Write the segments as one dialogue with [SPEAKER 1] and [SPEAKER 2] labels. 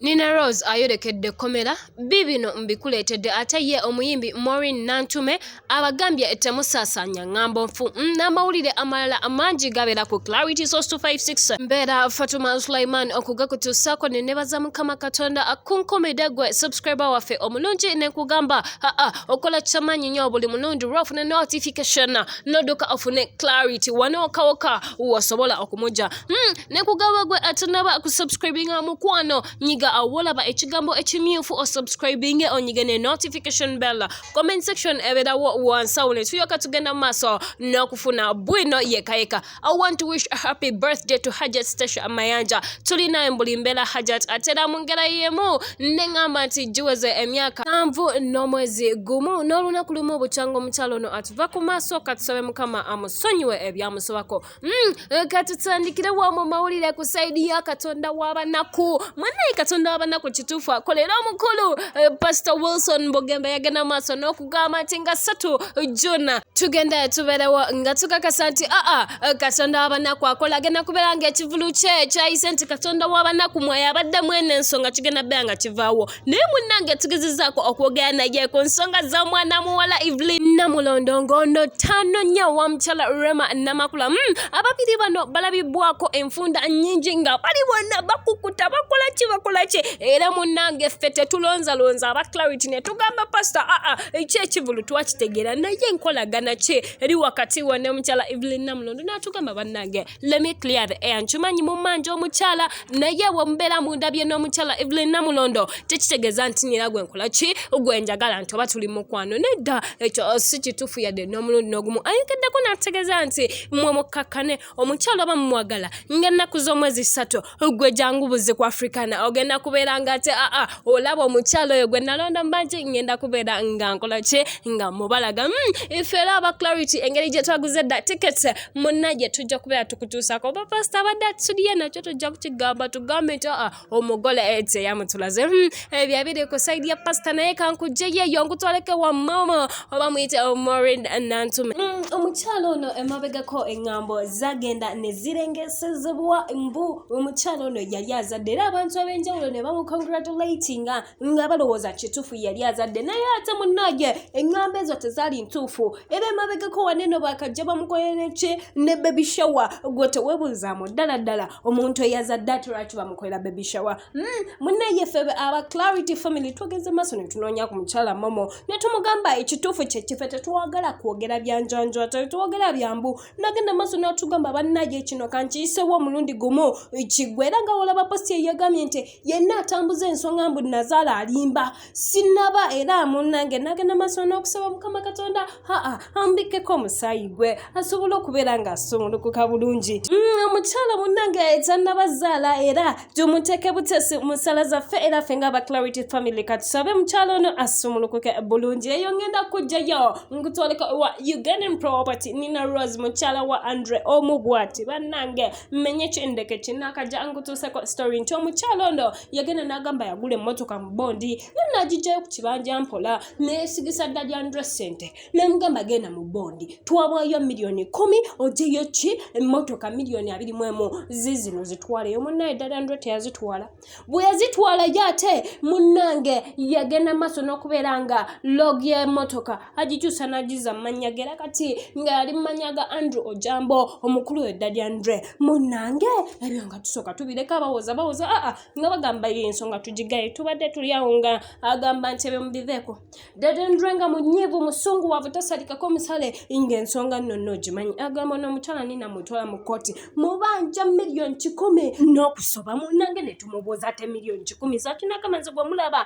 [SPEAKER 1] Nina Rose ayolekedde ekkomera, biibino mbikuleetedde ate ye omuyimbi Maureen Nantume abagambye temusaasaanya ng'ambo nfu mm, n'amawulire amalala amangi gabeera ku Clarity Source 256 mbeera Fatuma Sulaiman okugakutuusaako ne nebaza Mukama Katonda akunkumide gwe subscriber waffe omulungi ne nkugamba aa okola kyamaanyi nnyo buli mulundi lwofuna notification n'odduka ofune Clarity wano wokawoka wasobola okumugya Hmm, ne kugaba gwe atanaba ku subscribinga mukwano nyiga awolaba ekigambo ekimyufu o subscribinge onyige ne notification bell comment section eberawo wansawo ne tuyoka tugenda maaso n'okufuna bwino yekayeka i want to wish a happy birthday to hajat stasha mayanja tulina embuli mbeera hajat atera mu ngera yemu ne ŋamba nti giweze emyaka sanvu n'omwezi gumu n'olunaku lumu obukyanga omukyalo ono atuva ku maaso katusabe mukama amusonyiwe ebyamusobako Mm, eh, katutandikire wa mu mawulire ku sayidi ya katonda w'abanaku mwanaye katonda w'abanaku kituufu akolera omukulu eh, pasita wilson bugembe yagenda mu maaso n'okugamba nti nga ssatu juna tugenda tuberewo nga tukakasa nti aa ah, ah, eh, katonda w'abanaku akola agenda kubeera nga ekivulu kye kyayise nti katonda w'abanaku mwaye abadde mwene ensonga kigenda beera nga kivaawo naye munnange tugezezaako okwogera naye ku nsonga za mwana muwala evelyn namulondo ngono tano nya wa mukyala rema namakula mm, ababiri bano balabibwako enfunda nyingi nga bali bonna bakukuta bakola ki bakola ki era munnange ffe tetulonzalonza aba clarity ne tugamba pasita aa ah, ah, ki ekivulu twakitegeera naye enkolagana ki eri wakati wa ne mukyala evelyn namulondo naatugamba bannange let me clear the air nkimanyi mumanja omukyala naye wemubeera mundabye n'omukyala evelyn namulondo tekitegeeza nti nira gwe nkola ki gwe njagala nti oba tuli mukwano nedda ekyo si kituufu yadde n'omulundi n'ogumu ayongeddeko n'ategeeza nti mwe mukkakkane omukyala oba mumwagala ng'ennaku z'omwezi ssatu gwe jangu buzi ku africana ogenda kubeera nga ate aa ah, ah, olaba omukyalo oyo gwe nalonda mubaki ngenda kubeera nga nkola ki nga mubalaga hmm, ife era aba clarity engeri gye twaguze da tickets munna gye tujja kubeera tukutuusako oba pasita abadde atusudiye nakyo tujja kukigamba tugambe nti aa ah, omugole ete yamutulaze hmm, ebyo abiri ku saidi ya pasita naye kankujje yeyo nkutwaleke wa mama oba muyite omorin nantume mm, omukyalo ono emabegako engambo zagenda nezirengesezebwa mbu omukyalo ono yali azadde era abantu abenjawulo ne bamukongratulatinga nga balowooza kituufu yali azadde naye ate munage engambo ezo tezaali ntuufu era emabegako waneno bakajja bamukolereki ne bebishowa gwe tewebuuzaamu ddala ddala omuntu eyazadde atulwaki bamukolera bebishowa Hmm, munaye ffe aba clarity family twogeze maaso netunoonya ku mukyala momo netumugamba ekituufu kyekife tetwagala kwogera byanjanjo ate tetwogera byambu nagenda maaso natugamba banaye kino kankiyisewo omulundi gumu kigwe era nga wolaba posti eyagambye nti yenna atambuza ensonga mbu nazaala alimba sinaba era munange nagenda maaso n'okusaba mukama katonda haa ambikkeko omusaayi gwe asobole okubeera nga asumulukuka bulungi mm, omukyala munange ekyannabazaala era tumuteeke butesi musala zaffe era ffe nga aba clarity family katusabe mukyala ono asumulukuke bulungi eyo ngenda kujjayo nkutwaleka wa ugandan property nina rose mukyala wa andre omu bwati bannange mmenye kyendeke kinakajja nkutuuseko story nti omukyala ono yagenda n'agamba yagula emmotoka mu bondi naye n'agijjayo ku kibanja mpola neesigisa ddali andre sente nemugamba genda mu bondi twawaayo miliyoni kumi ojeyo ki emmotoka miliyoni abiri mu emu zizino zitwaleyo munnaye ddali andre teyazitwala bwe yazitwala ye ate munnange yagenda maaso n'okubeera nga log y'emmotoka agikyusa n'agiza amannya ge era kati nga yali mu mannya ga andrew ojambo omukulu edda lya andre munnange ebyo nga tusooka tubireka bawoza bawoza aa nga bagamba yo ensonga tugigaye tubadde tuli awo nga agamba nti ebyo mubiveeko dada andre nga munyiivu musungu waavu tasalikako musale nga ensonga nno nno ogimanyi agamba n'omukyala nina mutwala mu kkooti mubanja miliyoni kikumi n'okusoba munnange ne tumubuuza ate miliyoni kikumi zakinakamanzi gwe mulaba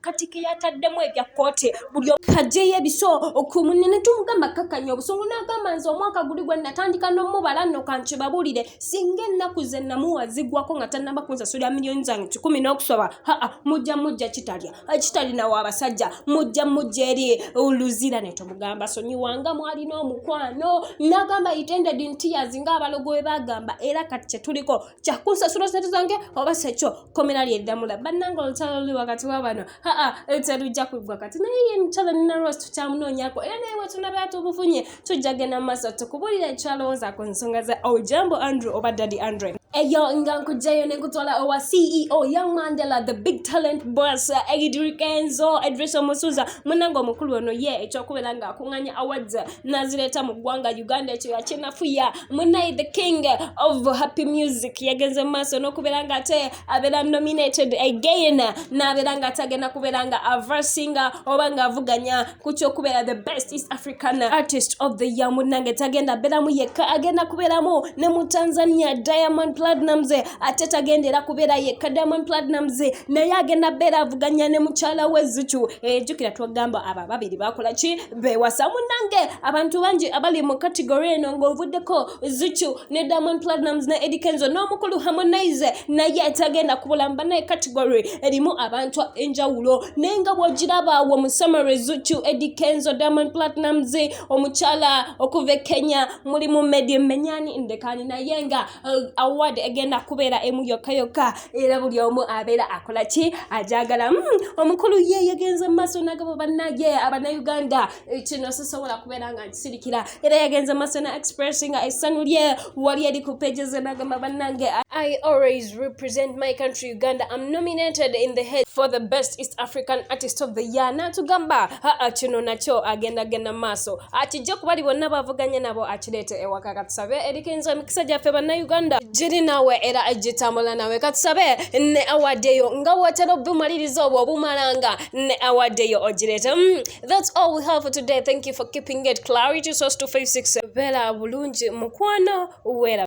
[SPEAKER 1] kati keyataddemu ebya kkooti buli kajeyo ebiso okumunne ne tumugamba kakkanya obusungu n'agamba nze omwaka guli gwe natandika n'omubala nno kankibabulire singa ennaku ze namuwa zigwako nga tannaba kunsasulira miliyoni zange kikumi n'okusoba haa mujja mujja kitalya kitalina wa basajja mujja mujja eri luzira ne tumugamba sonyiwanga mwalina omukwano n'agamba itended ntiyazi ng'abalogo we bagamba era kati kye tuliko kyakunsasula sente zange oba sekyo komera lyeddamula bannanga olutalo luli wakati wa bano haa terujja kuggwa kati naye ye mukyala nina rose tukyamunoonyako era naye wetunabera tubufunye tujja genda mu maaso tukubulira ekyalowooza ku nsonga za ojambo andrew oba daddy andre eyo nga nkugjayo nekutwala owa ceo young mandela the big talent boss egidrikenzo edrisa omusuza munanga omukulu ono ye ekyokubeera nga akunganya awards nazireta mu ggwanga uganda ekyo yakinafuya munaye the king of happy music yagenze mu maaso n'okubeera nga ate abeera nominated again n'abeera nga ate agenda kubeera nga aversinga oba ng'avuganya ku kyokubeera the best east african artist of the year munange tagenda abeeramu yekka agenda kubeeramu ne mu tanzania diamond platinums ate tagenda era kubeera yekka diamond platinums naye agenda beera avuganya ne mukyala we zucu ejukira eh, twagamba abo ababiri bakola ki bewasa munange abantu bangi abali mu kategori eno ng'ovuddeko zuchu ne diamond platinums ne edikenzo n'omukulu harmonize naye tagenda kubulamba naye kategori erimu abantu enjawulo naye nga bwogiraba wo mu summary zuchu edikenzo diamond platinums omukyala okuva e kenya mulimu medi menyani ndekani naye nga uh, award egenda kubeera emu yokka yokka era buli omu abeera akola ki ajagala hmm, omukulu ye yagenze mu maaso nagabo bannage abanauganda eh, kino sisobola kubeera nga nkisirikira era yagenze mu maaso na expressinga essanyu lye wali eri ku pages nagamba bannange I always represent my country Uganda. I'm nominated in the head for the best East African artist of the year. Natugamba haa kino nakyo agenda genda maaso. Akijja kubali bonna bavuganya nabo akireete ewaka katusabe erikenzo emikisa gyaffe bannayuganda giri naawe era gitambula naawe katusabe ne awadeyo nga wotera obumaliriza obwo obumalanga ne awadeyo ogireeta mm, thats all we have today thank you for keeping it clarity source 256 beera bulungi mukwano wera